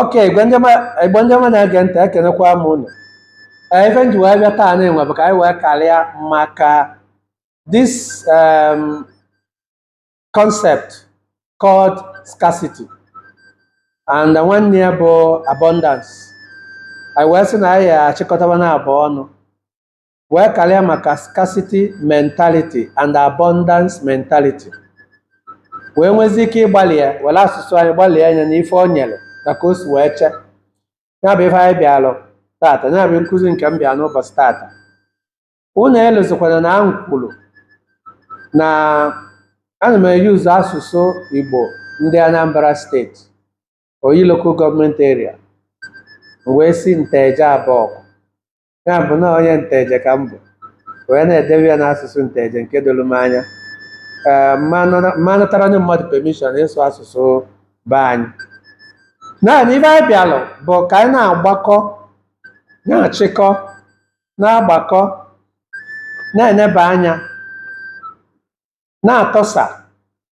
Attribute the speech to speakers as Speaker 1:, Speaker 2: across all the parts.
Speaker 1: okay igbo ndị ọma na-ege ntị ekenekwa m ụnụ Ee, ife m ji wee bịa taanị nwa bụ ka anyị wee karịa maka this um, concept called scarcity and nwanne ya bụ abundance anyị wee sị na anyị achịkọta fa n'abụọ ọnụ wee karịa maka scarcity mentality and abundance mentality wee nwezi ike ịgbalị ya were asụsụ anyị gbalịa anya na ife o nyere na ka o si wee chee ya bụ ife anyị bịalụ tata ya bụ nkụzi nke m bịa n'ụbọsị tata unu elozikwana na m kwuru na ana m e-use asụsụ igbo ndị anambra state oyi local government area m wee si nteje abọgụ ya bụ na onye nteje ka m bụ wee na-edebe ya n'asụsụ nteje nke doro m anya ee m ma natara ndị mmadụ permission ịsụ asụsụ be anyị naanị ife anyị bịalụ bụ ka anyị na-agbakọ na-achịkọ na-agbakọ na-eneba anya na-atọsa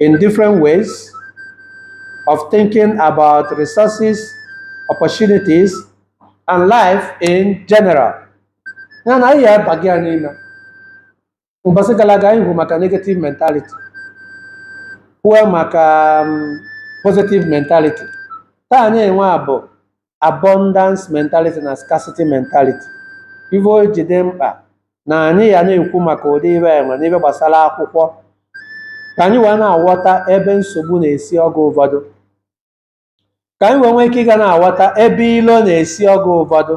Speaker 1: in different ways of thinking about resources, opportunities, and life in general. Ya na anyị ya aba gị ya n'ime. Mbọsị gara aga anyị hụ maka negative mentality, kwuo maka um, positive mentality. Taanị nwa bụ abundance mentality na scarcity mentality ife o ji dị mkpa na anyị ya na-ekwu maka ụdị ife nwa na ife gbasara akwụkwọ ka anyị wee na-aghọta ebe nsogbu na-esi oge ụfọdụ ka anyị wee nwee ike ịga na-aghọta ebe ilo na-esi oge ụfọdụ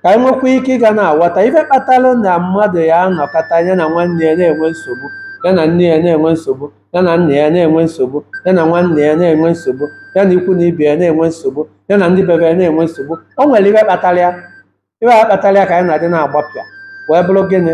Speaker 1: ka anyị nwekwa ike ịga na-aghọta ife kpatalụ na mmadụ ya anọkata ya na nwanne ya na-enwe nsogbu ya na nne ya na-enwe nsogbu ya na nna ya na-enwe nsogbu ya na nwanne ya na-enwe nsogbu ya na ikwu na ibe ya na-enwe nsogbu ya na ndị bi be ya na-enwe nsogbu o nwere ife kpatara ya ife a kpatara ya ka anyị na-adị na-agbapịa wee bụrụ gịnị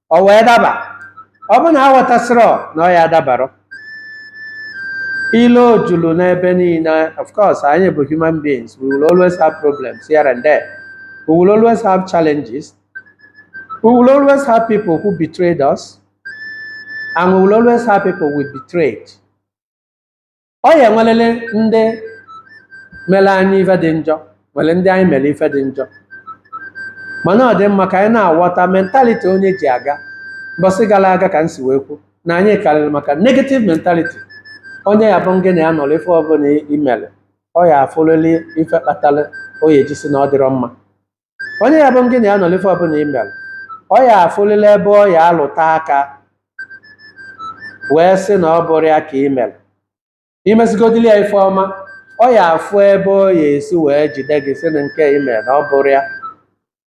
Speaker 1: ọ wee daba ọ bụ na aghọtasịrọ na ọ ya adabarọ ilo julu n'ebe niine of course anyị bụ human beings we will always have problems here and there we will always have challenges we will always have people who betrayed us and we will always have people we betrayed ọ ya enwelili ndị mere anyị ife dị njọ nwere ndị anyị mere ife dị njọ mana ọ dị mma ka anyị na-aghọta mentality onye ji aga mbọsị gara aga ka m si wee kwu na anyị karịrị maka negative mentality onye ya abụ ngị na ya nọrọ ife ọbụla i mere ọ ya afụlili ife kpatara o ya eji sị na ọ dịrọ mma onye ya bụ gị na ya nọlụ ife ọbụla ị mere ọ ya afụlịlị ebe ọ ya alụta aka wee sị na ọ bụrọ ya ka ị mere i mesigodili ya ife ọma ọ ya afụ ebe ọ ya esi wee jide gị sị na nke ị mere na ọ bụrọ ya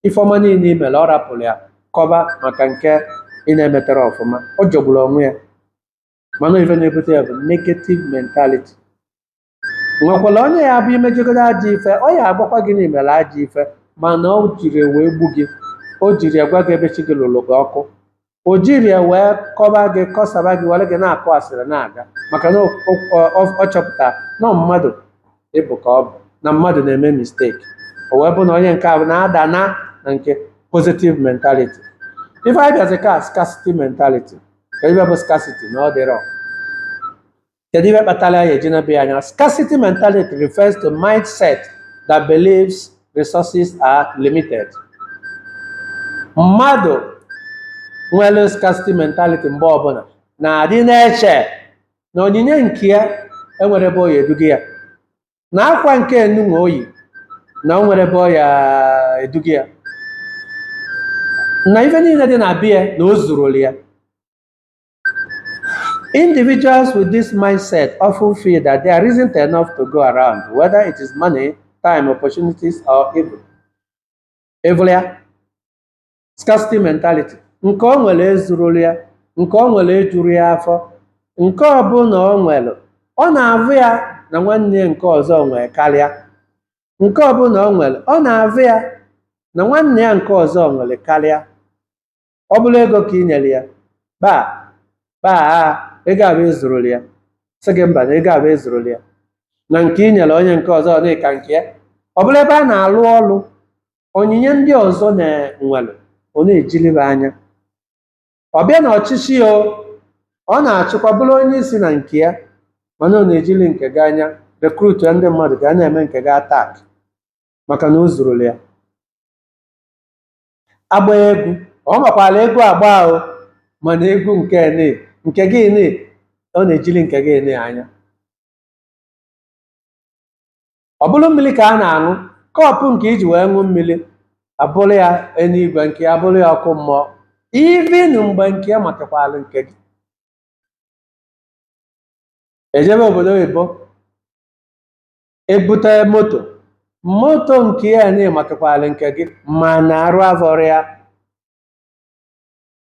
Speaker 1: ife ọma niile ị mere ọ rapụrụ ya kọba maka nke ị na-emetarọ ọfụma ọ jọgburu onwe ya mana ife na-ebute ya bụ negative mentality nwekwara onye ya bụ imejegodo ajọ ife ọ ya agwakwa gị na i mere ajọ ife mana o jirọ ya wee gbu gị o jirọ ya gwa gị ebe chi gị lụrụ gị ọkụ o jirọ ya wee kọba gị kọsaba gị were gị na-akụ asịrị na-aga maka na o- o- ọ- ọ chọpụta na ọ mmadụ ị bụ ka ọ bụ na mmadụ na-eme mistake o wee bụ na onye nke ahụ na-ada na na nke positive mentality ife anyị bịazi ka scarcity mentality kee ife bụ scarcity na ọ dịrọ Kedu ihe kpatara ya eji na-ebe ya anya? Scarcity mentality refers to mindset that believes resources are limited. Mmadụ nwere scarcity mentality mgbe ọbụla na-adị na-eche na onyinye nke ya enwerọ ebe ọ ya eduga ya na akwa nke ya nụnwa o yi na o nwerọ ebe ọ ya eduga ya na ife niile dị na be ya na o zurọlụ ya Individuals with this mindset often feel that there isn't enough to go around, whether it is money, time, opportunities, or even evil ya scarcity mentality. Nke o nwere ezurọlụ ya, nke o nwere ejurọ ya afọ, nke ọ bụla o nwere, ọ na-avụ ya na nwanne ya nke ọzọ nwere karịa. Nke ọ bụla o nwere, ọ na-avụ ya na nwanne ya nke ọzọ nwere karịa. ọ bụrụ ego ka ị nyere ya kpaa kpaa a ego afụ ezurọlụ ya sị gị mba na ego afụ ezurọlụ ya na nke ị nyere onye nke ọzọ na ọ ka nke ya ọ bụrụ ebe a na-alụ ọlụ onyinye ndị ọzọ nwere ọ na-ejili fa anya ọ bịa na ọchịchị ya o, ọ na-achịkwa bụrụ onye isi na nke ya mana ọ na-ejili nke gị anya recruitia ndị mmadụ ga na-eme nke gị attack maka na o zurọlụ ya a gbaa egwu ọ makwara egwu agba o mana egwu nke ni nke gị ni ọ na-ejili nke gị ni anya ọ bụrụ mmiri ka a na-aṅụ cup nke i ji wee ṅụ mmiri abụrụ ya eluigwe nke ya bụrụ ya ọkụ mmụọ even mgbe nke ya makakwara nke gị e jebe obodo oyibo ebute moto moto nke ya na ịmatụkwala nke gị ma na arụ avọrọ ya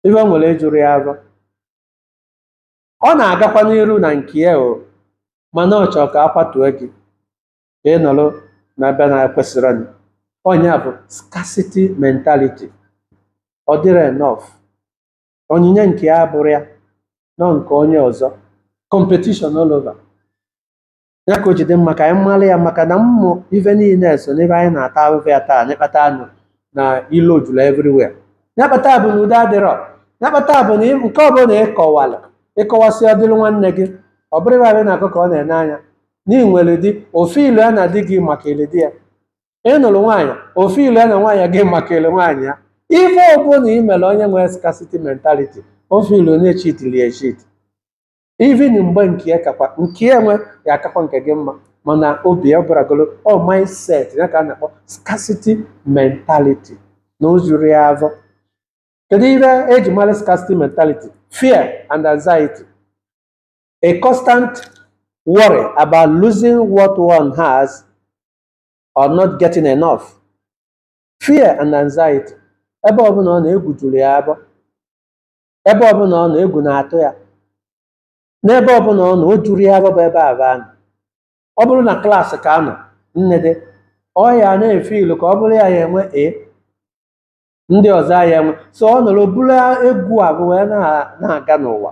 Speaker 1: ife o nwere ejurọ ya avọ ọ na-agakwa n'iru na nke ya o mana ọ chọrọ ka akwatue gị ka ị nọrọ na ebe na-ekwesịrọ ịnọ nya bụ scarcity mentality ọ dịrọ enough onyinye nke ya bụrụ ya nọ nke onye ọzọ competition all over ya ka o ji dị mma ka anyị mara ya maka na ụmụ ife niile so n'ebe anyị na-ata afụfụ ya taa nya kpata anụ na ilo juru everywhere nya kpata bụ na udo adịrọ nya kpata bụ na ị- nke ọbụla ịkọwala ịkọwasị ọdịrị nwanne gị ọ bụrụ ebe na-akọ ka ọ na-ene anya na ị nwere di ofe ilu ya na di gị makalịlị di ya ị nụrụ nwaanyị ofe ilu ya na nwaanyị gị makalịlị nwaanyị ya ife ọbụla ị mere onye nwere scarcity mentality ofe ilu na-echitili echit even mgbe nke ya kakwa nke ya nwe ya akakwa nke gị mma mana obi ya bụragolo ọ mindset ya ka a na-akpọ scarcity mentality na o zurọ ya afọ kedu ihe eji mara scarcity mentality fear and anxiety a constant worry about losing what one has or not getting enough fear and anxiety ebe ọbụla ọ nọ egwu juru ya afọ ebe ọbụla ọ nọ egwu na-atụ ya n'ebe ọbụla ọ nọ o jurọ ya ebe bụ ebe a ga-anọ ọ bụrụ na klaasị ka anọ nne dị ọ ya na-efe ilu ka ọ bụrụ ya ya enwe a ndị ọzọ ya enwe so ọ nọrọ buru egwu ahụ wee na- na-aga n'ụwa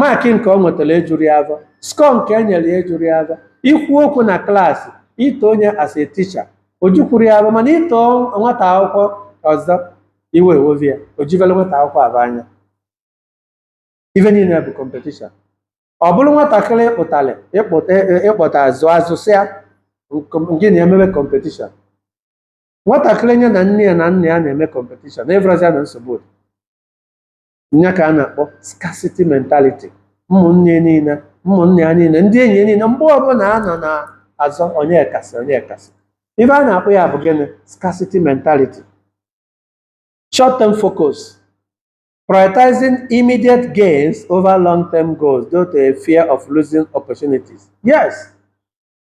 Speaker 1: Maakị nke o nwetara ejurọ ya afọ. Skọọ nke e nyere ya ejurọ ya afọ. Ikwu okwu na klaasị, ito onye as a teacher, o jukwurọ ya afọ mana ito nwata akwụkwọ ọzọ, iwe ewewe ya, o juvere nwata akwụkwọ afụ anya. Ife niile bụ competition. Ọ bụrụ nwatakịrị ịkpụtara ịkpụta ịkpọta zụ azụ sị ya gị na emebe competition. Nwatakịrị nya na nne ya na nna ya na-eme competition, ị fụrọzi ya na nsogbu dị. nya ka a na-akpọ scarcity mentality ụmụnne ya niile ụmụnna ya niile ndị enyi ya niile mgbe ọbụla a nọ na-azọ onye kasị onye kasị ife a na-akpọ ya bụ gịnị scarcity mentality short term focus prioritizing immediate gains over long term goals due to a fear of losing opportunities yes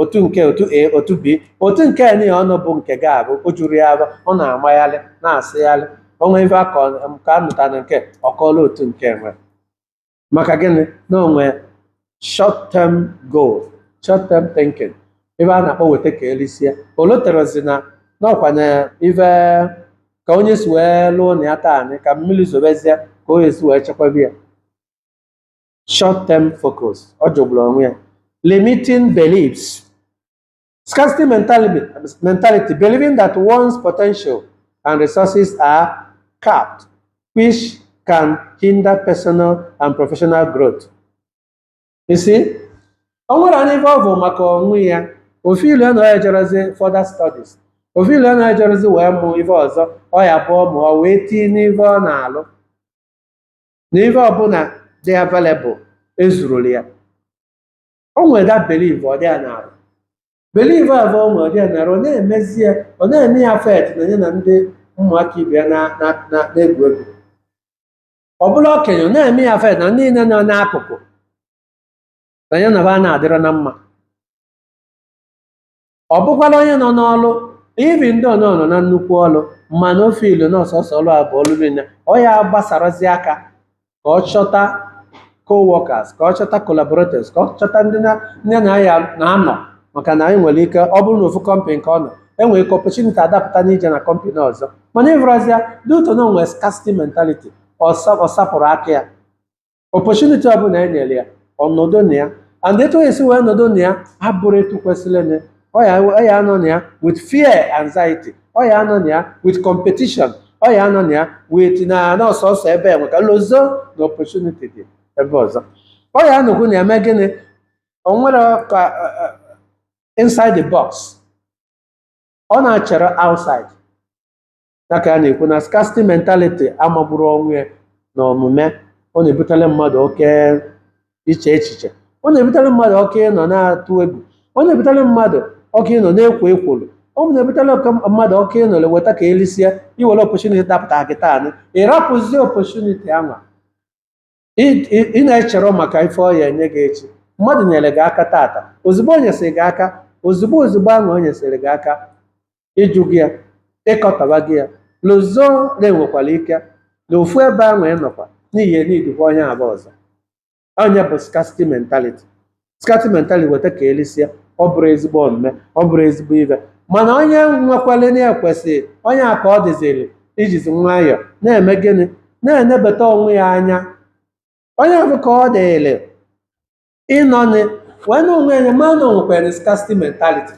Speaker 1: otu nke otu a otu b otu nke a niile ọnụ bụ nke gị abụ o jurọ ya afọ ọ na-amagharị na-asịgharị onwe ife aka nke a mụta na nke ọ kọọla otu nke nwe maka gịnị na o nwe short term goal short term thinking ebe a na-akpọ weta ka elisie o loterọzi na n'ọkwanye ife ka onye si wee lụọ na ya taa anyị ka mmiri zobezie ka o esi wee chekwaba ya short term focus ọ jọgburu onwe ya limiting beliefs scarcity mentality, mentality believing that one's potential and resources are capped which can hinder personal and professional growth you see o nwere anyị ife ọ bụ maka onwe ya ọ feel na ya jerazi further studies ọ feel na ya jerazi wee mụ ife ọzọ ọ ya-abụ ọ mụọ wee tinye n'ife ọ na-alụ na ife ọbụla dị available ezurula ya o nwere that belief ọ dị ya n'arụ belief ahụ o nwere ọ dị ya n'arụ ọ na-emezi ya ọ na-eme ya affect na ya na ndị ụmụaka ibe ya na- na- na- na-egwu egwu ọ bụla okenye ọ na-eme ya affect na ndị niile nọ n'akụkụ na ya na ba na-adịrọ na mma ọ bụkwala onye nọ n'ọlụ even ndị ọ nọ nọ na nnukwu ọlụ mana ọ feel na ọ sọsọ ọlụ a bụ ọlụ niile ọ ya gbasarazi aka ka ọ chọta co-workers ka ọ chọta collaborators ka ọ chọta ndị na ndị na ya na-anọ maka na e nwere ike ọ bụrụ na ofu kọmpanị ka ọ nọ enwere ike opportunity adapụta n'ije na kọmpanị ọzọ mana ị vụrọzi ya due to na o nwe scarcity mentality ọ sa- ọ sapụrụ aka ya opportunity ọbụla e nyere ya ọ nọdụ na ya and etu o esi wee nọdụ na ya abụrọ etu kwesịrị na ọ ya ọ ya anọ na ya with fear anxiety ọ ya anọ na ya with competition ọ ya anọ na ya with na na ọ sọsọ ebe enwe ka lozo na opportunity dị ebe ọzọ ọ ya anọkwu na-eme gịnị o nwere ka eh, eh, inside the box ọ na-echerọ outside ya ka a na-ekwu na scarcity mentality amagburu onwe ya na omume ọ na-ebutere mmadụ oke iche echiche ọ na-ebutere mmadụ oke ịnọ na-atụ egwu ọ na-ebutere mmadụ oke ịnọ na-ekwo ekworo ọ na-ebutere oke mmadụ oke ịnọ weta ka e lisie i nwere opportunity dapụta gị taa ị rapụzie opportunity anwa Ị- ị ị na-echerọ maka ife ọ ya enye gị echi mmadụ nyere gị aka tata ozugbo o nyesịrị gị aka ozugbo ozugbo ahụ o nyesịrị gị aka ịjụ gị ya ịkọtaba gị ya lozo na e nwekwara ike na ofu ebe ahụ ị nọkwa n'ihi needikwa onye ahụ ọzọ ọ ya bụ scarcity mentality scarcity mentality weta ka e lisie ọ bụrọ ezigbo omume ọ bụrọ ezigbo ife mana onye nwekwale na-ekwesị onye a ka ọ dịziri ijizi nwayọọ na-eme gịnị na-enebata onwe ya anya onye ahụ ka ọ dịrị ịnọnị wee na onwe ya ma na o nwekwere scarcity mentality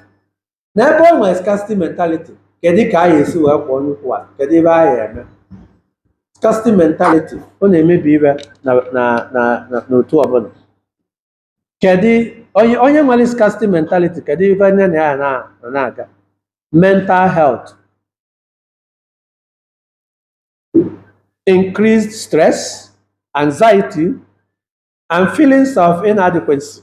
Speaker 1: na ebe o nwere scarcity mentality kedu ka anyị esi wee kwụọ onye ukwu ala kedu ebe anyị eme scarcity mentality ọ na-emebi ife na na na na n'otu ọbụla kedu onye onye nwere scarcity mentality kedu ife nye na ya na na- na-aga mental health increased stress anxiety and feelings of inadequacy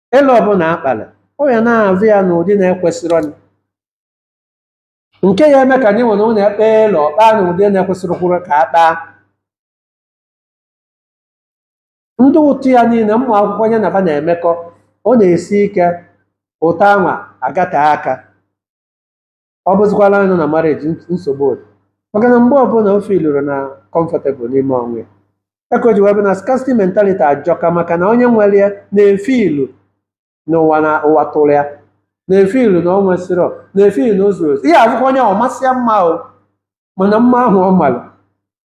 Speaker 1: elu ọbụla akpara ọ ya na-afụ ya n'ụdị na-ekwesịrọ ya. nke ya eme ka anyị nwere ụlọ ekpe elu ọkpa n'ụdị na-ekwesịrị kwuru ka a kpaa ndị otu ya niile ụmụ akwụkwọ ya na fa na-emekọ ọ na-esi ike ụta anwa agata aka ọ bụzikwala anyị nọ na marriage ns- nsogbu adị maka na mgbe ọbụla o feelụrụ na comfortable n'ime onwe ya ya ka o ji wee bụ na scarcity mentality ajọka maka na onye nwere ya na-efeelu n'ụwa na ụwa tụrụ ya na-efeelu na ọ nwesịrọ na-efeelu na o zuro ezu ị ya-afụkwa onye ọ masịa mma o mana mma ahụ ọ mara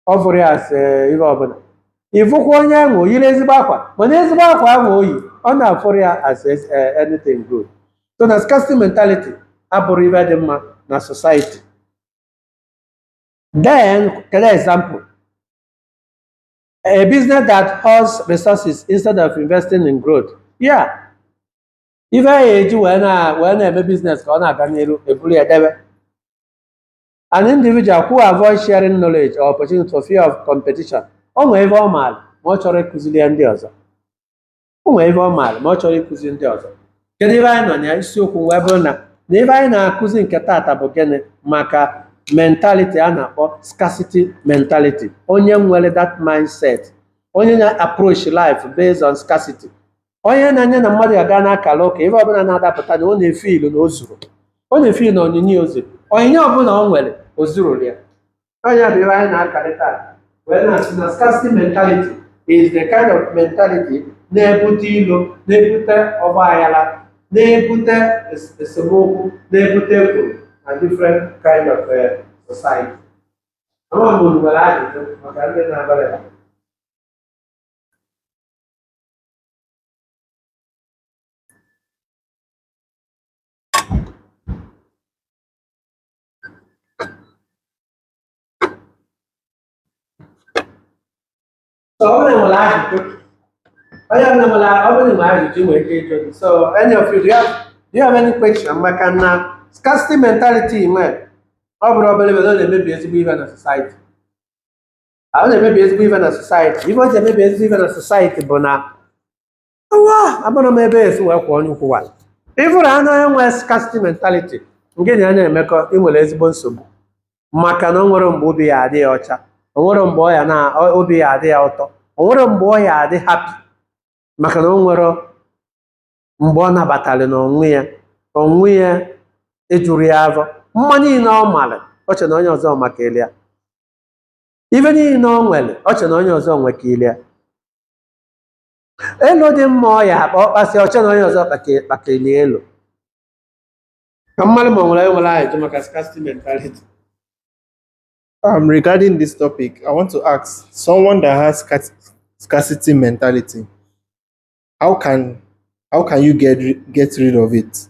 Speaker 1: ọ fụrọ ya as ihe ọbụla ị fụkwa onye ahụ o yiri ezigbo akwa mana ezigbo akwa ahụ o yi ọ na-afụrọ ya as as- eh, anything good so na scarcity mentality abụrọ ife dị mma na society then kele example a business that hoards resources instead of investing in growth yeah ife ya eji wee na wee na-eme business ka ọ na-aga n'iru eburu ya debe an individual who avoid sharing knowledge or opportunity for fear of competition o nwee ife ọ maara ma ọ chọrọ ịkụziri ya ndị ọzọ o nwee ife ọ maara ma ọ chọrọ ịkụziri ndị ọzọ kedu ife anyị nọ na ya isiokwu wee bụrụ na na ife anyị na-akụzi nke tata bụ gịnị maka mentality a na-akpọ scarcity mentality onye nwere that mindset onye na-approach life based on scarcity onye na ya na mmadụ aga na-akara ụka ife ọbụla na-adapụta na ọ na-efeelu na o zuro ọ na-efeelu na onyinye o zuro onyinye ọbụla o nwere o zuro ya ọ ya bụ ife anyị na-akarị taa wee na-asị na scarcity mentality is the kind of mentality na-ebute ilo na-ebute ọgba aghara na-ebute es- esemokwu na-ebute ekworo na different kind of eh, society ama m unu nwere ajụjụ maka ndị na-abara ya So ọ bụrụ na ajụjụ onye ọbụla nwere ọ bụrụ na ajụjụ nwere ike ịjụ gị so any of you do you have, do you have any question maka na scarcity mentality nwere ọ bụrọ obere obere ọ na-emebi ezigbo ihe na society ahụ na-emebi ezigbo ife na society ife o ji emebi ezigbo ife na society bụ na ụwa amarọ m ebe e si wee kwụọ onye ukwu wa ịfụrụ anụ onye nwere scarcity mentality ngị na ya na-emekọ ị nwere ezigbo nsogbu maka na o nwerọ mgbe obi ya adị ọcha o nwerọ mgbe ọ ya na ọ- obi ya adị ya ụtọ o nwerọ mgbe ọ ya-adị happy maka na o nwerọ mgbe ọ nabatara n'onwe ya onwe ya ejurọ ya afọ mma niile ọ mara o chere na onye ọzọ makarịrị ya ife niile o nwere o che na onye ọzọ nwekarịrị ya elu dị mma ọ ya-akpa ọ kpasị o che na onye ọzọ kpake- kpakeli elu ka mma amarọ m ma o nwere onye nwere ajụjụ maka scarcity mentality Um, regarding this topic, I want to ask someone that has scar- scarcity mentality, how can how can you get ri- get rid of it?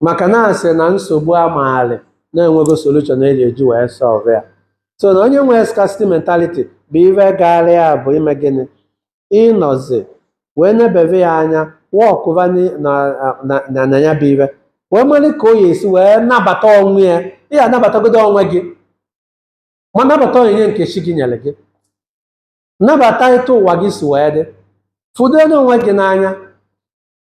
Speaker 1: maka na a sị na nsogbu a maalị na e nwego solution e ji eji wee solve ya so na onye nwere scarcity mentality bụ ife gaara ya bụ ime gịnị ịnọzi wee nebeve ya anya wọkụva ni- na na- na- na ya bụ ife wee mara ka ọ ya-esi wee nabata onwe ya ị ya-anabatagodo onwe gị ma nabata onyinye nke chi gị nyere gị nabata etu ụwa gị si wee dị fụdo onwe gị n'anya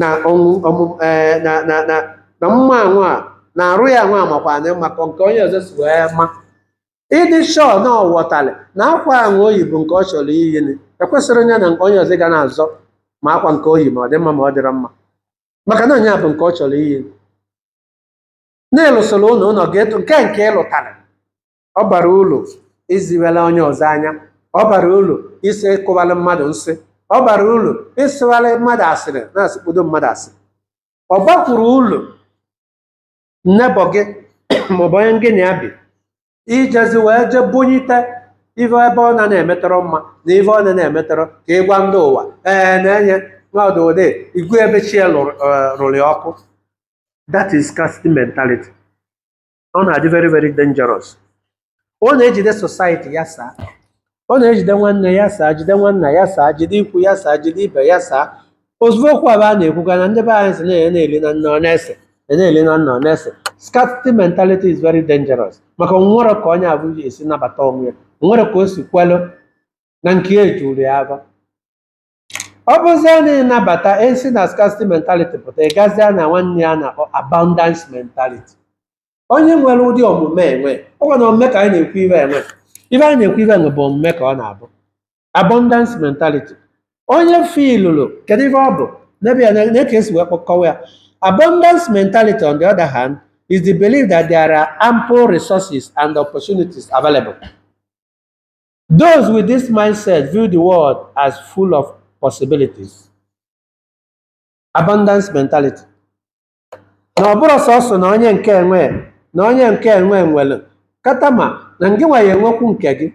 Speaker 1: na ọnwụ ọmụm ee na na na na mma ahụ a na arụ ya ahụ amakwa mma ka nke onye ọzọ si wee ma ị dị sure na ọ ghọtara na akwa ahụ o yi bụ nke ọ chọrọ iyi na ekwesịrọ nya na onye ọzọ ga na-azọ ma akwa nke o yi ma ọ dị mma ma ọ dịrọ mma maka na onye a bụ nke ọ chọrọ iyi na ị lụsịa ụlọ ụlọ ga-eto nke nke ị lụtara ọ barọ uru iziwela onye ọzọ anya ọ barọ uru isi ịkọwalụ mmadụ nsị ọ barọ uru ịsịwalị mmadụ asịrị na-asịkpodo mmadụ asịrị ọ bakwurọ uru neighbour gị maọbụ onye ngị na ya bi ijezi wee je bunyite ife ebe ọ na na-emetarọ mma na ife ọ na na-emetarọ ka ị gwa ndị ụwa ee na-enye n'ọdụ ode igwe ebe chi ya lụrụ- eh, rụrụ ya ọkụ that is scarcity mentality ọ na-adị very very dangerous ọ na-ejide society ya saa ọ na-ejide nwanne ya saa jide nwanna ya saa jide ikwu ya saa jide ibe ya saa ozugbo okwu abụ a na-ekwuga na ndị be anyị sị na ya na-eli na nna ọ na-ese ya na-eli na nna ọ na-ese scarcity mentality is very dangerous maka o nwerọ ka onye abụ ji esi nabata onwe ya o nwerọ ka o si kwelụ na nke ejuru ya afọ ọ bụzie na ị nabata isi na scarcity mentality pụta ị gazie na nwanne ya na-akpọ abundance mentality onye nwere ụdị omume enwe ọ nwere omume ka anyị na-ekwu iwe enwe ive anyị na-ekwu iwe enwe bụ omume ka ọ na-abụ abundance mentality onye feelụrụ kedu ife ọ bụ n'ebe ya na ka esi wee kpọ kọwa ya abundance mentality on the other hand is the belief that there are ample resources and opportunities available Those with this mindset view the world as full of possibilities. Abundance mentality. Na ọ bụrụ sọsọ na onye nke enwe na onye nke enwe nwere kata ma na ngị nwa ya enwekwu nke gị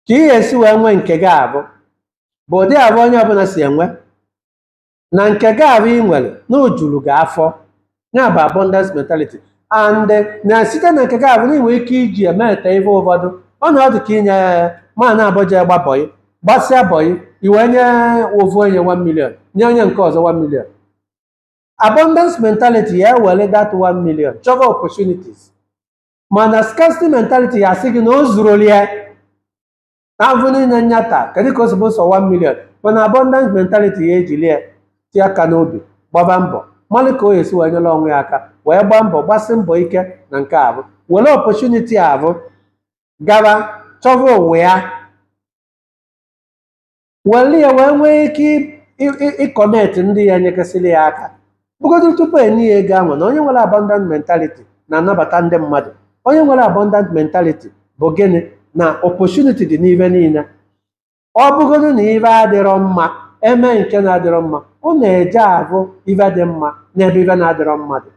Speaker 1: ka ị ga-esi wee nwee nke gị avụ bụ ụdị avụ onye ọbụla si enwe na nke gị ahụ ị nwere na o juru gị afọ ya bụ abundance mentality and na site na nke gị ahụ na i nwe ike iji emete ihe ụfọdụ ọ na ọ dị ka i nye mmadụ naabọ je gba bọyị gbasịa bọyị i wee nye ofu onye 1 million nye onye nke ọzọ 1 million abundance mentality ya ewere that 1 million chọba opportunities mana scarcity mentality ya asị gị na o zuroli ya na avụ niile nya ta kedu ka o si bụ sọ 1 million mana abundance mentality ya ejili ya tie aka n'obi gbaba mbọ malụ ka o esi wee nyere onwe ya aka wee gbaa mbọ gbasi mbọ ike na nke avụ were opportunity avụ gara chọba onwe ya were ya wee nwee ike ịconnect ndị ya nyekasịrị ya aka bụgodoro tupu enye ya ego ahụ na onye nwere abundant mentality na-anabata ndị mmadụ onye nwere abundant mentality bụ gịnị na opportunity dị n'ive niile ọ bụgodu na ive adịrọ mma eme nke na-adịrọ mma ọ na-eje ahụ ive dị mma n'ebe ive na-adịrọ mma dị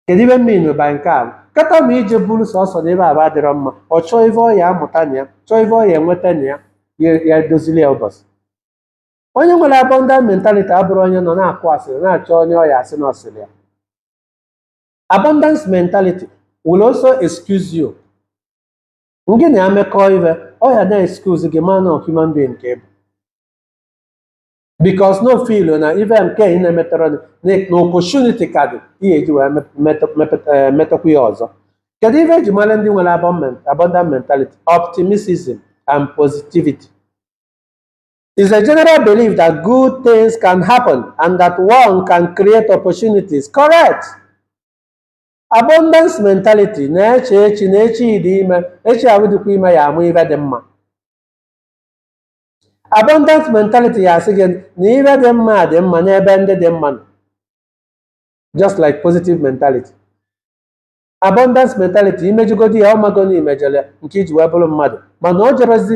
Speaker 1: kedu ive mmiri ba nke a kata ma ije buru sọsọ na ebe avụ adịrọ mma ọ chọọ ive ọ ya amụta na ya chọọ ive ọ ya enweta na ya ya edozili ya ụbọchị onye nwere abundant mentality abụrọ onye nọ na-akụ asịrị na-achọ onye ọ ya asị na ọ sịrị ya abundance mentality will also excuse you ngị na ya mekọọ ive ọ ya na excuse gị man of human being nke bụ because na ọ feel na ive nke ị na-emetọrọ gị, na na opportunity ka dị ihe eji wee mep- metọ- mepụta- eh, metọkwa ya ọzọ kedu ive eji mara ndị nwere abundant abundant mentality optimism and positivity It's a general belief that good things can happen and that one can create opportunities. Correct. Abundance mentality na-eche echi na echi dị ime echi ahụ dịkwa ime ya amụ ive dị mma. Abundance mentality ya asị gị na ive dị mma dị mma n'ebe ndị dị mma nọ. Just like positive mentality. Abundance mentality i mejọgodi ya ọ mago na i mejọle nke i ji wee bụrụ mmadụ mana o jebezi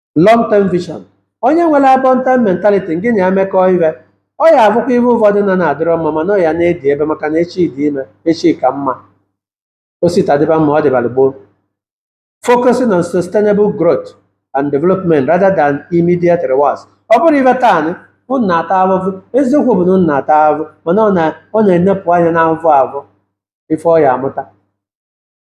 Speaker 1: long term vision onye nwere abundant mentality ngị na ya emekọọ ive ọ ya-abụkwa ive ụfọdụ nọ na-adịrọ mma mana ọ ya na-edi ebe maka na echi dị ime echi ka mma o si taa dịba mma ọ dịbara gboo focusing on sustainable growth and development rather than immediate rewards ọ bụrụ ive taa nị, unu na-ata ahụhụ eziokwu bụ na unu na-ata ahụhụ mana ọ na- ọ na-enepụ anya n'ahụhụ ahụ ife ọ ya-amụta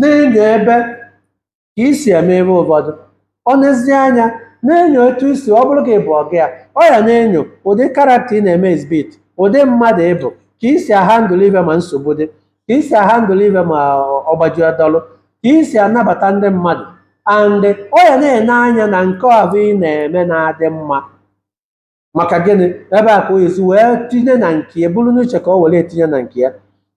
Speaker 1: na-enyo ebe ka i si eme ive ụfọdụ ọ nezie anya na-enyo etu i si ọ bụrụ ka ị bụ ọga ya ọ ya na-enyo ụdị character ị na-eme exhibit ụdị mmadụ ị bụ ka i si ahandle ive ma nsogbu dị ka i si ahandle ive ma ọgbaji ọdọlụ ka i si anabata ndị mmadụ and ọ ya na-ene anya na nke ahụ ị na-eme na-adị mma maka gịnị ebe a ka o si wee tinye na nke ya buru n'uche ka o were etinye na nke ya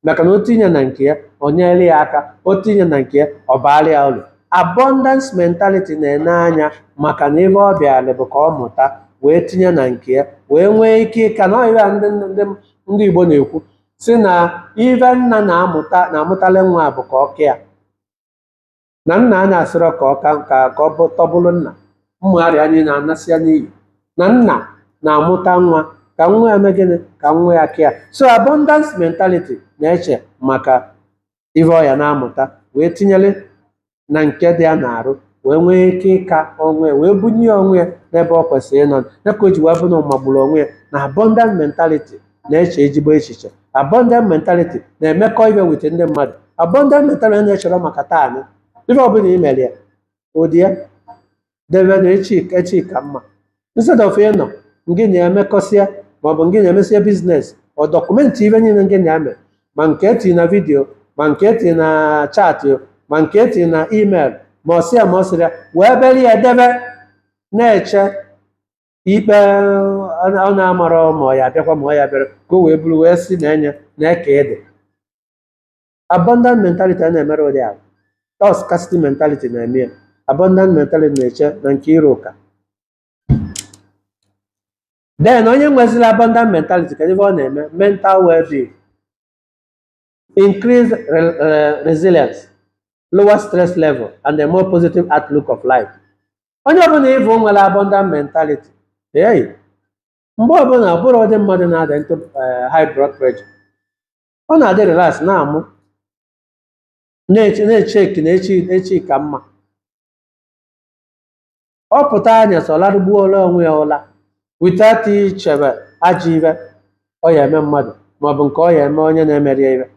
Speaker 1: maka na o tinye na nke ya o nyere ya aka o tinye na nke ya ọ baara ya uru abundance mentality na-ene anya maka na ive ọ bịara bụ ka ọ mụta wee tinye na nke ya wee nwee ike ịka na ọyịa ndị ndị ndị Igbo na-ekwu sị na ive nna na-amụta na-amụtali nwa bụ ka ọ ka ya na nna anyị asịrọ ka ọ ka ka ka ọ bụ tọbụrụ nna mmụgharị anyị na-anasị ya n'ihi na nna na-amụta nwa ka nwa ya mee gịnị ka nwa ya ka ya so abundance mentality na-eche maka ihe ọ ya na-amụta wee tinyere na nke dị ya n'arụ wee nwee ike ịka onwe ya wee bunye ya onwe ya n'ebe ọ kwesịrị ịnọ ya ka o ji wee bụ na ọ magburu onwe ya na abundant mentality na-eche ezigbo echiche abundant mentality na-emekọ ive with ndị mmadụ abundant mentality na-echere maka taa nị ife ọbụla i mere ya o die ya debe na echi echi ka mma instead of ị nọ ngị na ya emekọsịa maọbụ ngị na-emesịa business ọ document ive niile ngị na ya mere ma nke e ti na video ma nke e ti na chat ma nke e ti na email ma ọsịa ma ọsịrịa wee bere ya debe na-eche ikpe ọ na-amara ma ọ ya-abịakwa ma ọ ya bịara ka o wee bụrụ wee si na enye na eke ede abundant mentality ana-emere ụdị ahụ ọ scarcity mentality na-eme ya abundant mentality na-eche na nke iro ụka then onye nwezila abundant mentality kedu ive ọ na-eme mental well-being increased re uh, resilience lower stress level and a more positive outlook of life onye ọbụla ị vụ nwere abundant mentality hey, mgbe ọbụla ọbụrụ ụdị mmadụ na-adị into eh, high blood pressure ọ na-adị relax na-amụ na-eche na-echeki na echi echi ka mma ọ pụta anyasị ọ larụgbuola onwe ya ụla without ichebe ajọ ife ọ ya eme mmadụ maọbụ nke ọ ya eme onye na-emeri ya ife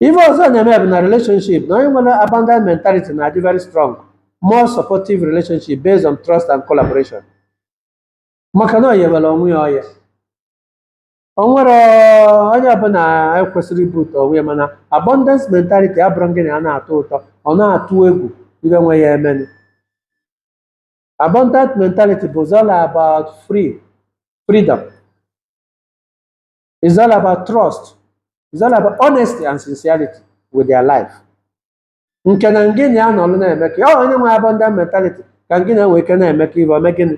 Speaker 1: ife ọzọ na-eme bụ na relationship na onye nwere abundant mentality na-adị very strong more supportive relationship based on trust and collaboration maka na ọ ya enwere onwe ya ọya o nwere onye ọbụla ekwesịrị ibu ụtọ onwe ya mana abundance mentality abụrụ gị na ya na-atọ ụtọ ọ na-atụ egwu ibe nwe ya emenụ abundant mentality bụ all about free freedom is all about trust is all about honesty and sincerity with their life nke na ngị na ya nọrọ na-eme ka ọ onye nwe abundant mentality ka ngị na nwee ike na-eme ka ife ome gịnị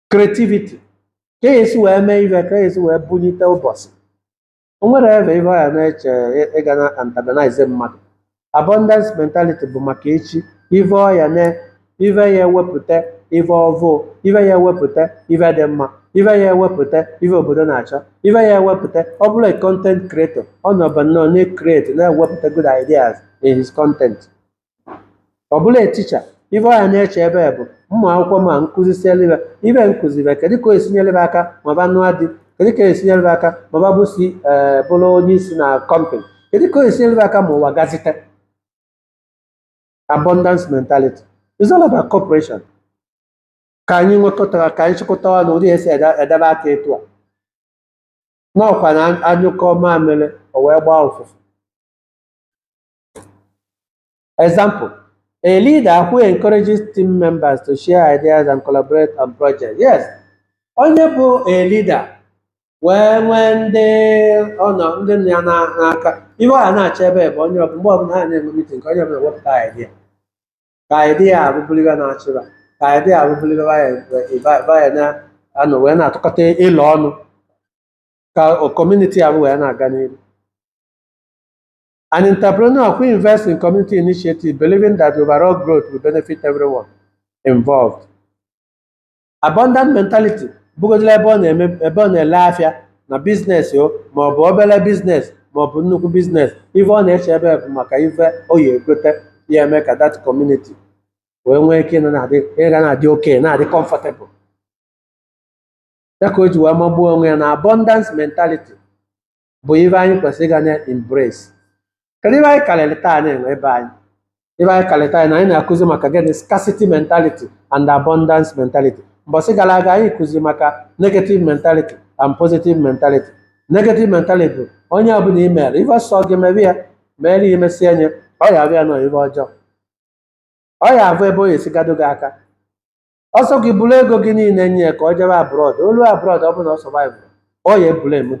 Speaker 1: creativity ka esi wee mee ife ka esi wee bunyite ụbọchị o nwere ebe ife ya na-eche ịga na antagonize mmadụ abundance mentality bụ maka echi ife ọya na ife ya ewepụta ife ọvụ ife ya ewepụta ife dị mma ife ya ewepụta ife obodo na-achọ ife ya ewepụta ọ bụlụ a content creator ọ nọba nnọọ na-create na-ewepụta good ideas in his content ọ bụlụ a teacher ife ọya na-eche ebe bụ ụmụ akwụkwọ ma nkụzi sielebe ife nkụzibe kedu ka o esi nyelebe aka maba nụa di kedu ka o esi nyelebe aka maba bụ si ee bụrụ onye isi na kọmpani kedu ka o esi nyelebe aka ma ụwa gazite abundance mentality is all about cooperation ka anyị nwekọtara ka anyị chịkọta ọnụ ụdị esi ede- edebe aka etu a ọkwa na a nyụkọ mamịrị o wee gbaa ụfụfụ Example, a leader who encourages team members to share ideas and collaborate on projects. Yes, onye bụ a leader wee nwee ndị ọ nọ ndị nọ ya na- n'aka ife a na-eche ebe bụ onye ọbụla mgbe ọbụla ha na-enwe mitin ka onye ọbụla wepụta idea ka idea abụ bụlụ ife na-achị ba ka idea abụ bụlụ ife ba ya na-anọ wee na-atụkọta ilo ọnụ ka community abụ wee na-aga n'ihu An entrepreneur who invests in community initiative believing that overall growth will benefit everyone involved. Abundant mentality bụgodịla ebe ọ na-eme ebe ọ na-ele afịa na business o ma ọ bụ obere business ma ọ bụ nnukwu business ife ọ na-eche ebe bụ maka ife ọ ya egote ya eme ka that community wee nwee ike ịnọ na-adị ịga na-adị okay na-adị comfortable ya ka o ji wee magbuo onwe ya na abundance mentality bụ ife anyị kwesịrị ịga nye embrace kedu ife anyị karịrị taa na-enwe ebe anyị ife anyị karịrị taa na anyị na-akụzi maka gịnị scarcity mentality and abundance mentality mbọsị gara aga anyị kụziri maka negative mentality and positive mentality negative mentality bụ onye ọbụla i mere ife sọ gị mebe ya mere ya emesịa nye ọ ya abịa nọ ife ọjọọ ọ ya avụ ebe o ya esigado gị aka ọ sọ gị buru ego gị niile nye ya ka ọ jebe abroad o lu abroad ọ bụrụ na ọ survive ọ ya ebule emu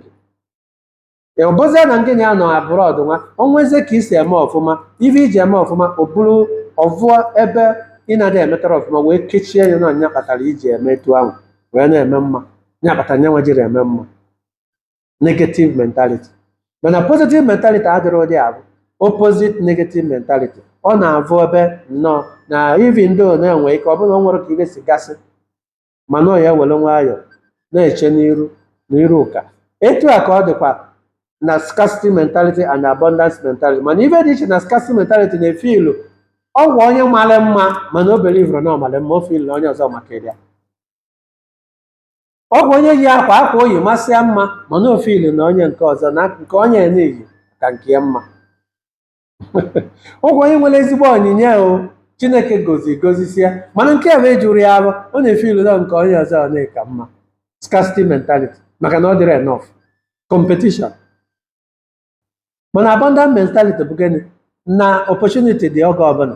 Speaker 1: gị ọ bụzie na ndị ya nọ abroad nwa o nwezie ka i si eme ọfụma ife i ji eme ọfụma ọ bụrụ ọ vụọ ebe ị na-adị emetara ọfụma wee kechie ya na nya kpatara i ji eme etu ahụ wee na-eme mma nya kpatara nya wee jiri eme mma negative mentality mana positive mentality adịrọ ụdị ahụ opposite negative mentality ọ na-avụ ebe nnọọ na even though na-enwe ike ọ bụrụ na o nwere ka ive si gasị mana ọ ya ewere nwayọọ na-eche n'iru na iru ụka etu a ka ọ dịkwa na scarcity mentality and abundance mentality mana ife dị iche na scarcity mentality na-efeel ọ kwa onye mara mma mana o believerọ na ọ mara mma o feel na onye ọzọ maka ya ọ bụ onye yi akwa akwa o yi masịa mma mana o feel na onye nke ọzọ na nke onye na-eyi ka nke ya mma ọ bụ onye nwere ezigbo onyinye chineke gozi gozisia mana nke o nwe ejurọ ya afọ ọ na-efeel na nke onye ọzọ na ka mma scarcity mentality maka na ọ dịrọ enough competition mana abundant mentality bụ gịnị na opportunity dị oge ọbụla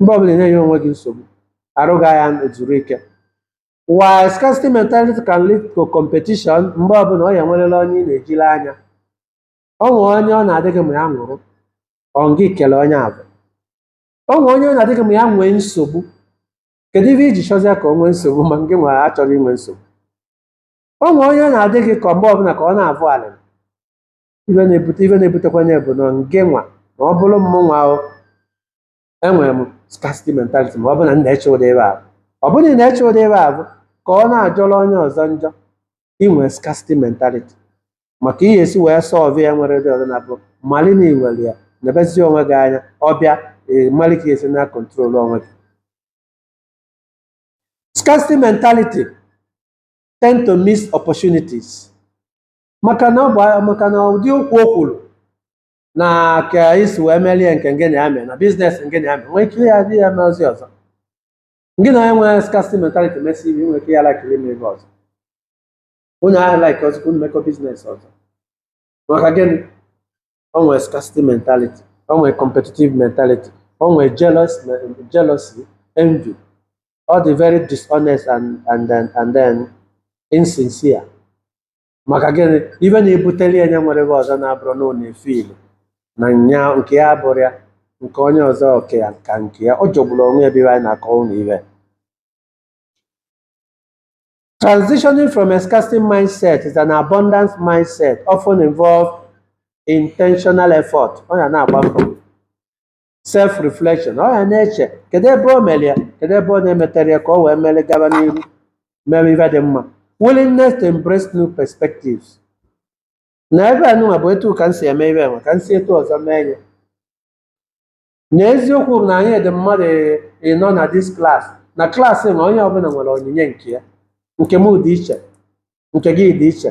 Speaker 1: mgbe ọbụla ị na-enye onwe gị nsogbu arụ gị ana-ezuru ike while scarcity mentality can lead to competition mgbe ọbụla ọ ya enwerela onye ị na-ejile anya ọ nwee onye ọ na-adị gị ma ya nwụrụ ọ gị kele onye ahụ ọ nwee onye ọ na-adị gị ma ya nwee nsogbu kedu ive i ji chọzie ka o nwee nsogbu ma gị nwa achọghị inwe nsogbu ọ nwee onye ọ na-adị gị ka mgbe ọbụla ka ọ na-avụ alịm ive na-ebute ive na-ebutekwa ya bụ na ngị nwa ma ọ bụrụ mmụnwa o enwere m scarcity mentality ma ọ bụ na m na-eche ụdị ive ahụ ọ bụrụ na ị na-eche ụdị ive ahụ ka ọ na-ajọrọ onye ọzọ njọ i nwe scarcity mentality maka ihe e si wee solve ya nwere dị ọzọ na bụ mali na i nwere ya nebezie onwe gị anya ọ bịa ee mali ka e si na-control onwe gị scarcity mentality tend to miss opportunities maka na ọ bụ maka na ụdị okwu o kwuru na ka i si wee merie nke ngị na ya mee na business ngị na ya mee nwee ike ya dị ya mee ozi ọzọ ngị na onye nwere scarcity mentality mesịa ive nwee ike ya lakiri ime ive ọzọ onye ahụ like ọzọ ka unu mekọ business ọzọ maka gịnị o nwere scarcity mentality o nwere competitive mentality o nwere jealous jealousy envy ọ dị very dishonest and and then and then insincere maka gịnị ife na-ebutere ya nya nwere ebe ọzọ na-abụrụ na ọ na-efe ilu na nya nke ya abụrụ ya nke onye ọzọ oke ya ka nke ya ọ jọgburu onwe ya ebe anyị na-akọ ụlọ ibe Transitioning from a scarcity mindset is an abundance mindset often involve intentional effort. Ọ ya na-agba mbọ. self reflection ọ ya na-eche kedu ebe o mere ya kedu ebe ọ na-emetere ya ka o wee mere gaba n'ihu mere ife dị mma willingness to embrace new perspectives na ebe anụnwa bụ etu ka m si eme ife enwe ka m si etu ọzọ mee ya na eziokwu bụ na anyị dị mmadụ ịnọ na this class na class na onye ọbụla nwere onyinye nke ya nke m dị iche nke gị dị iche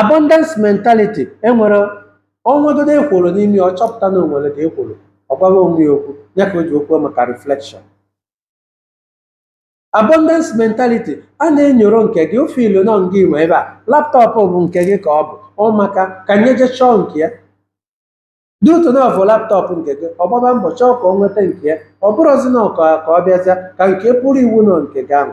Speaker 1: abundance mentality enwere o nwegodu ekworo n'ime ya, ọ chọpụta na o nwere ka ekworo ọ gwawa onwe ya okwu ya ka e ji ekwu maka reflection abundance mentality a na-enyoro nke gị ofe ilo na ọ ngị nwe ife a laptop bụ nke gị ka ọ bụ ọ maka ka nya jee chọọ nke ya dị otu a na ọ bụ laptop nke gị ọ gbaba mbọ chọọ ka o nweta nke ya ọ bụrụzi na ọka ka ọ bịazịa ka nke pụrụ iwu nọ nke gị ahụ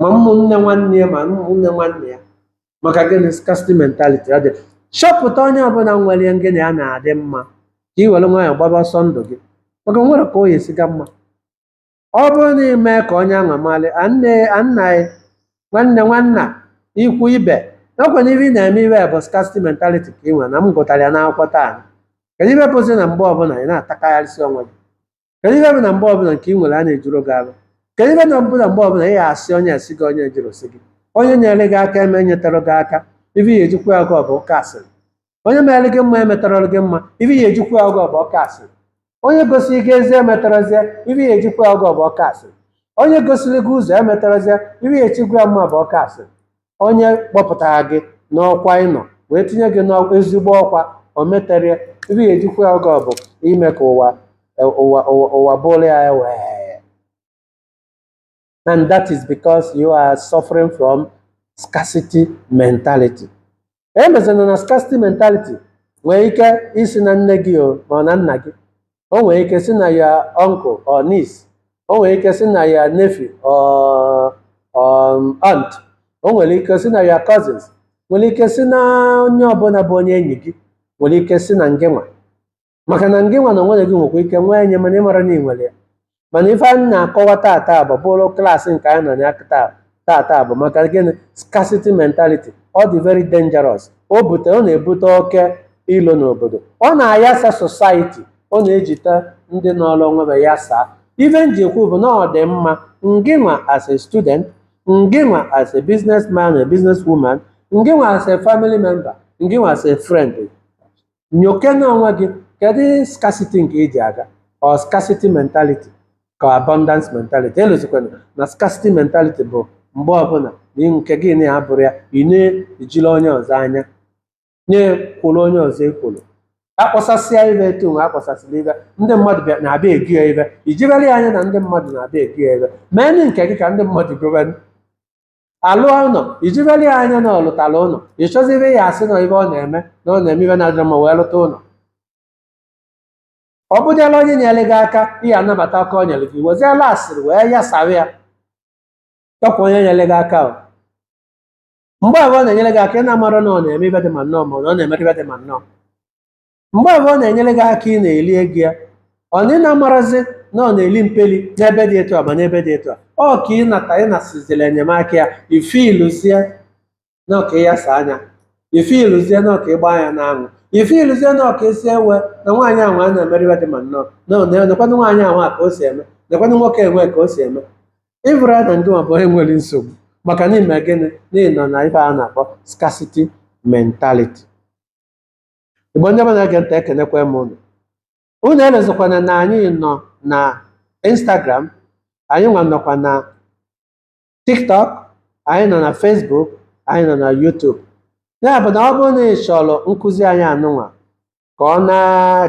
Speaker 1: ma ụmụnne nwanne ya ma ụmụnne nwanne ya maka gịnị scarcity mentality ọ dị achọpụta onye ọbụla nwere ihe ngịnị ya na-adị mma ka ị were nwayọọ gbaba ọsọ ndụ gị maka o nwere ka ọ ya-esi ga mma ọ bụrụ na ị mee ka onye ahụ mara nne nna gị nwanne nwanna ikwu ibe nakwana ibe ị na-eme ife bụ scarcity mentality ka ị nwere na m gụtara ya n'akwụkwọ taa kedu ife bụzi na mgbe ọbụla ị na-atakarịsị onwe gị kedu ihe bụ na mgbe ọbụla nke ị nwere a na-ejuru gị afọ kedu ife bụ na mgbe ọbụla ị asị onye asị gị onye jụrụ sị gị onye nyere gị aka enyetara gị aka ife ị ya-eji kwụa ya ụgwọ bụ ụka asịrị onye mere gị mma emetara gị mma ife ị ya-eji kwụa ya ụgwọ bụ ụka asịrị onye gosiri gị ezi emetarazie ife ị ya-eji kwụa ya ụgwọ bụ ụka asịrị onye gosiri gị ụzọ emetarazie ife ị ya-eji kwụa ya mma bụ ụka asịrị onye kpọpụtara gị n'ọkwa ị nọ wee tinye gị n'ezigbo ọkwa o meterie ife ị ya-eji kwụa ya ụgwọ bụ ime ka ụwa ụwa ụwa ụwa buru ya iwe and that is because you are suffering from scarcity mentality emezina na scarcity mentality nwere ike isi na nne gị o ma ọ na nna gị o nwere ike si na ya uncle or niece o nwere ike si na ya nephew or um, aunt o nwere ike si na ya cousins nwere ike si na onye ọbụla bụ onye enyi gị nwere ike si na ngị nwa maka na ngịnwa na onwe gị nwekwa ike nwee nye mana ị mara na ị nwere ya mana ife anyị na-akọwa tata bụ bụrụ class nke anyị nọ na ya taa- tata bụ maka gịnị scarcity mentality ọ dị very dangerous o bute ọ na-ebute oke ilo n'obodo ọ na-ayasa society ọ na-ejite ndị nọrọ onwe ha yasaa ife m ji ekwu bụ na ọ dị mma ngịnwa as a student ngịnwa as a businessman a businesswoman ngịnwa as a family member ngịnwa as a friend nyokene onwe gị kedu scarcity nke i ji aga ọ scarcity mentality ka abundance mentality elozikwana na scarcity mentality bụ mgbe ọbụla na nke gị na ya bụrụ ya ị na-ejili onye ọzọ anya na-ekworo onye ọzọ ekworo akpọsasịa ife etu nwa akpọsasịla ife ndị mmadụ bịa na-abịa ego ya ife i jibere ya anya na ndị mmadụ na-abịa ego ya ife mee nụ nke gị ka ndị mmadụ gobe alụọ ụlọ i jibeli ya anya na ọ lụtara ụlọ ị chọzibe ya asị na ife ọ na-eme na ọ na-eme ife na-adịrọ mma wee lụta ụlọ ọ bụdịala onye nyere gị aka ị ya anabata aka o nyere gị weziela asịrị wee yasara ya ọkwa onye nyere gị aka o mgbe ahụ ọ na-enyere gị aka ị na-amarọ na ọ na-eme ife dị ma nnọọ ma ọ na-emere ife dị ma nnọọ mgbe ahụ ọ na-enyere gị aka ị na-eli ego ya ọ na ị na-amarazi na ọ na-eli mpeli n'ebe dị etu a ma n'ebe dị etu a ọ ka ị nata ị nasizila enyemaka ya i feeluzie na ọ ka ya saa anya i feeluzie na ọ ka ịgba anya n'anwụ i feeluzie na ọ ka esi ewe na nwaanyị ahụ a na-emere ife dị ma nnọọ na ọ na- nekwanụ nwaanyị ahụ a ka o si eme nekwanụ nwoke nwa ka o si eme ị fụrọ na ngịnwa bụ onye nwere nsogbu maka na ị me gịnị na ị nọ na ife a na-akpọ scarcity mentality Igbo ndị ọma na-ege ntị ekenekwa m unu unu elozikwana na anyị nọ na Instagram anyị nwa nọkwa na TikTok anyị nọ na Facebook anyị nọ na YouTube ya bụ na ọ bụrụ na ị chọrọ nkụzi anyị anụnwa ka ọ na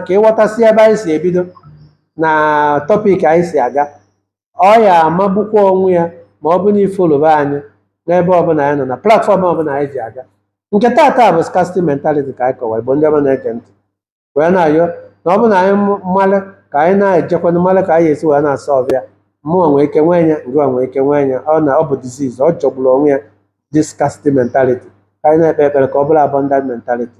Speaker 1: ka ị ghọtasị ebe anyị si ebido na topic anyị si aga ọ ya amagbukwa onwe ya ma ọ bụ na ị followba anyị n'ebe ọbụla anyị nọ na platform ọbụla anyị ji aga nke taata bụ scarcity mentality ka anyị kọwa igbo ndị ọma na-ege ntị wee na-ayọ na ọ bụ na anyị malụ ka anyị na-ejekwana malụ ka anyị esi wee na-asa ọbịa mmụnwa nwee ike nwee ya ngịnwa nwee ike nwee ya ọ na ọ bụ disease ọ jọgburu onwe ya this scarcity mentality ka anyị na-ekpe ekpere ka ọ bụrụ abundant mentality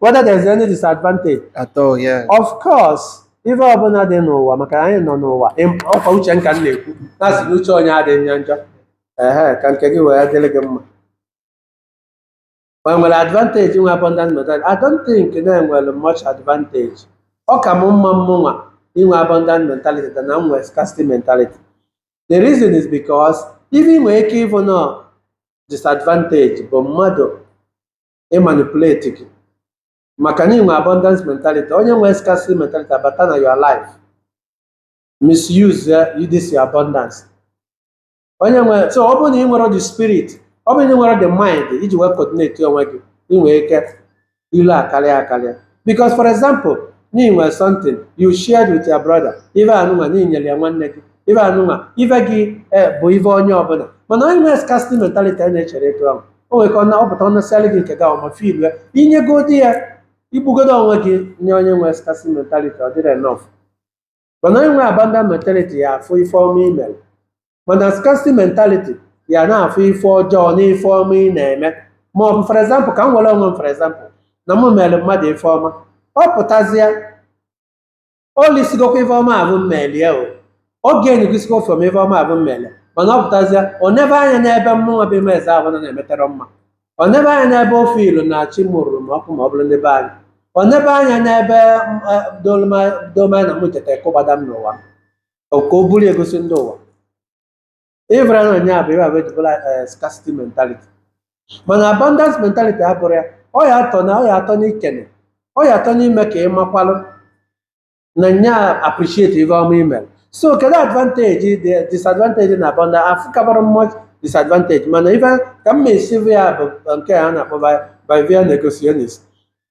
Speaker 1: whether there's any disadvantage at all yeah of course ife ọbụla dị n'ụwa maka na anyị nọ n'ụwa Em- ọkwa uche m ka m na-ekwu na-asị na uche onye adịghị njọ njọ ehe ka nke gị wee dịrị gị mma o nwere advantage nwe abundant mentality I don't think na e nwere much advantage ọ ka m mma mmụnwa inwe abundant mentality than na m nwee scarcity mentality the reason is because ife ị nwere ike ịfụ na disadvantage bụ mmadụ ịmanipulate gị maka na i nwe abundance mentality onye nwe scarcity mentality abata na your life misuse ya you this your abundance onye nwere so ọ bụrụ na ị nwere the spirit ọ bụrụ na ị nwerọ the mind iji wee coordinate onwe gị ị nwere ike ilu akarịa akarịa because for example na i nwere something you shared with your brother ife anụnwa na i nyere ya nwanne gị ife anụnwa ife gị eh, bụ ife onye ọbụla mana onye nwere scarcity mentality a na-echere etu ahụ o nwere ka ọ na-ọpụta ọ nasịarị gị nke gị ahụ ma filu ya i nyegodi ya i gbugodi onwe gị nye onye nwere scarcity mentality ọ dịrọ enough mana onye nwe abundance mentality ya afụ ife ọma ị mere mana scarcity mentality ya na-afụ ife ọjọọ na ife ọma ị na-eme ma ọ bụ for example ka m were onwe m for example na mụ mere mmadụ ife ọma ọ pụtazie o lisigokwa ife ọma afụ m melie o oge enyegosikwa ofe m ife ọma afụ m melie mana ọ pụtazie ọ nebe anya n'ebe mụnwa bụ ime eze ahụ na na-emeterọ mma ọ nebe anya n'ebe o feelu na chi mụrụrụ m ọkụ ma ọ bụrụ ndị be anyị ọ nebe anya n'ebe m, eh, doloma- doma na mụ cheta kụgbada m n'ụwa ka o buru egosi ndị ụwa ife a na onye a bụ ife a ejibụla scarcity mentality mana abundance mentality abụrọ ya ọ ya atọ na ọ ya atọ n'ikene ọ ya atọ n'ime ka ị makwalụ na nya appreciate ife ọma i mere so kedu advantage the disadvantage na abundance afụkabarọ m much disadvantage mana ife ka m asị bụ ya bụ nke a na-akpọ by by via negotiationist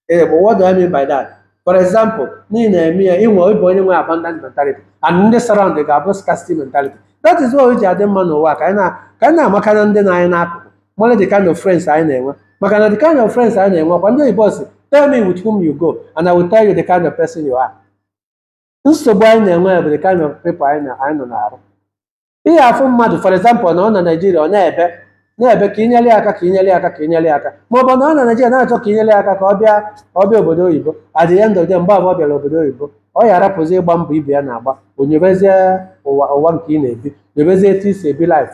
Speaker 1: ee but what do I mean by that for example n'ihi na-eme ya i nwe ị bụ onye nwe abundant mentality and ndị surround gị abụ scarcity mentality that is why o ji adị mma n'ụwa ka anyị na- ka anyị na-amaka na ndị nọ anyị n'akụkụ mara the kind of friends anyị na-enwe maka na the kind of friends anyị na-enwe kwa ndị oyibo si tell me with whom you go and I will tell you the kind of person you are nsogbu anyị na-enwe bụ the kind of people anyị na- anyị nọ na-arụ ihe afụ mmadụ for example na ọ na Naịjirịa ọ na-ebe na-ebe ka inyere ya aka ka inyere ya aka ka inyere ya aka ma ọ bụ na ọ na Naịjirịa na-achọ ka inyere ya aka ka ọ bịa ka ọ bịa obodo oyibo at the end of the day, mgbe abụọ bịara obodo oyibo ọ ya arapụzi ịgba mbọ ibe ya na-agba o nyebezie ụwa ụwa nke ị na-ebi nyebezie etu i si ebi life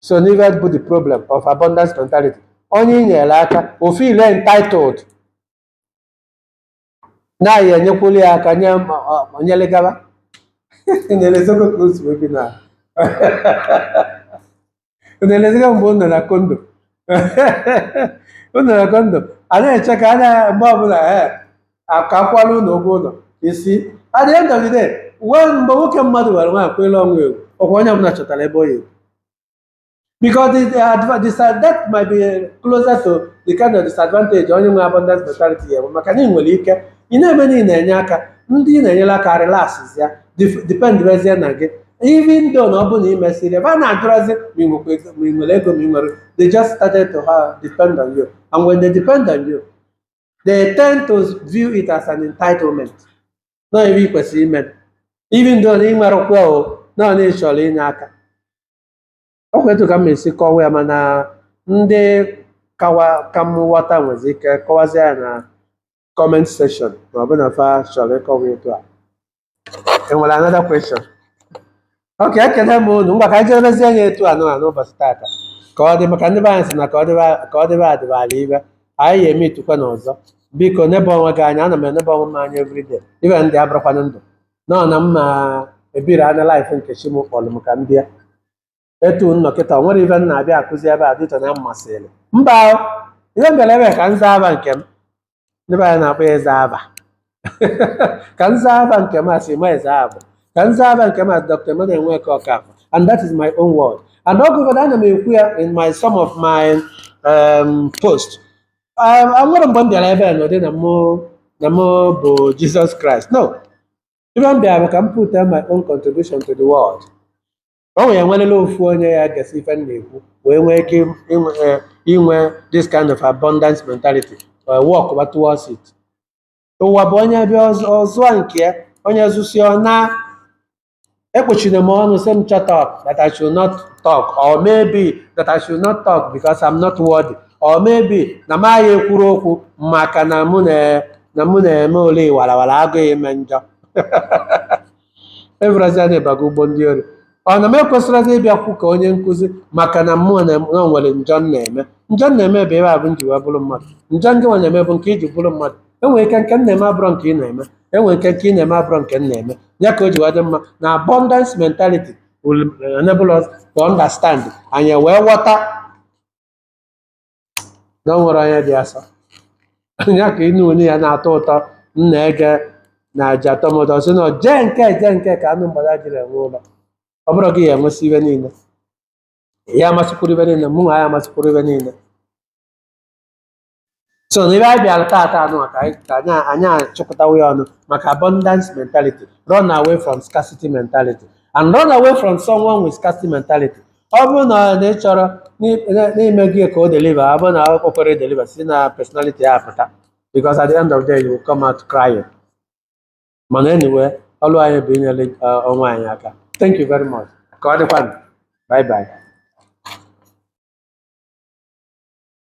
Speaker 1: so n'ife a bụ the problem of abundance mentality onye i nyere aka o feel entitled na ị ya enyekwuli ya aka nye ma ọ- ma nyere gaba na-elezọgo ka o si wee bi na na-elezọgo mgbe unu nọ na kondo unu nọ na kondo a na-eche ka a na mgbe ọbụla ee akakwala ụlọ ụgwọ ụlọ isi at the end of the day uwe mgbe nwoke mmadụ were nwaanyị kwele ọnwa ewu ọkwa onye ọbụla chọtara ebe ọ ya ewu because the, the, adva- the, sa- that might be closer to the kind of disadvantage onye nwe abundance mentality ya bụ maka na ị nwere ike ị na-eme na ị na-enye aka ndị ị na-enyere aka relaxes ya dif- depend rezie na gị even though na ọ bụrụ na ị mesịrị ebe a na-ajụrazi ma ị nwekwa ego- ma ị nwere ego ma ị nwere they just started to ha depend on you and when they depend on you they tend to view it as an entitlement na ife ị kwesịrị ime even though na ị nwere ụkwụ o na ọ na ị chọrọ inye aka ọ kwa etu a ka m esi kọwa ya mana ndị kawa ka m ghọta nwezi ike kọwazie ya na comment section ma ọ bụ na fa chọrọ ịkọwa etu a enwere another question ok ekele m unu ngwa ka anyị jerezie anya etu anụ a n'ụbọchị tata ka ọ dị maka ndị be anyị si na ka ọ dịba ka ọ dịba adịba ala ife anyị ya eme itukwa n'ọzọ biko nebe onwe gị anya ana m enebe onwe m anya everyday ibe ndị abụrụkwana ndụ nọ na mma ebiri anya life nke chi m kpọrọ m ka m bịa etu nnọ kịta o nwere ife m na-abịa akụzi ebe a dịtọ na mmasịrị mba o, ihe m bịara ebe a ka m zaa afa nke m ndị be anyị na-akpọ ya eze afa ka m zaa afa nke m a sị ma eze afa ka m zaa afa nke m a dr emmanuel nweke okafọ and that is my own word and ọ gụgọdọ ana m ekwu ya in my some of my um, post um, enwerọ mgbe m bịara ebe a n'ụdị na mụ na mụ bụ jesus christ no ife m bịara bụ ka m put my own contribution to the world o nwere enwerela ofu onye ya gesị ife m na-ekwu wee nwee ike inwe eh, inwe this kind of abundance mentality wee work ba towards it ụwa bụ onye bịa ọ zụ- ọ zụọ nke ya onye zụsịa ọ naa ekpuchina m ọnụ sị m shut up that I should not talk or maybe that I should not talk because I'm not worthy or maybe na m agaghị ekwuru okwu maka na mụ na na mụ na-eme ole warawara agụghị ime njọ evrazia na-ebaga ụgbọ ndị ori ọ na m ekwesịrịghị ịbịakwu ka onye nkụzi maka na mụ na mụ nwere njọ m na-eme njọ m na-eme bụ ebe a bụ m ji wee bụrụ mmadụ njọ gị nwa na-eme bụ nke i ji bụrụ mmadụ enwere ike nke m na-eme abụrọ nke ị na-eme enwere ike nke ị na-eme abụrọ nke m na-eme ya ka o ji wee dị mma na abundance mentality will enable us to understand anyị wee ghọta na o nwerọ onye dị asọ ya ka ịnụ onye ya na-atọ ụtọ m na-ege na aja atọ m ụtọ sị na jee nke jee nke ka anụ mgbada jiri enwe ụlọ ọ bụrọ gị ya enwesị ife niile ya amasịkwuru ife niile mụ nwa ya amasịkwuru ife niile so na ebe anyị bịara taata anụ a ka anyị ka anyị anyị achịkọtawo ya ọnụ maka abundance mentality run away from scarcity mentality and run away from someone with scarcity mentality ọ bụrụ na na ị chọrọ n'ime- na- n'ime gị ka o deliver ọ bụrụ na o kwere deliver si na personality ya pụta because at the end of the day you will come out crying mana anyway ọlụ anyị bụ inyere uh, onwe anyị aka thank you very much ka ọ dịkwanụ bye bye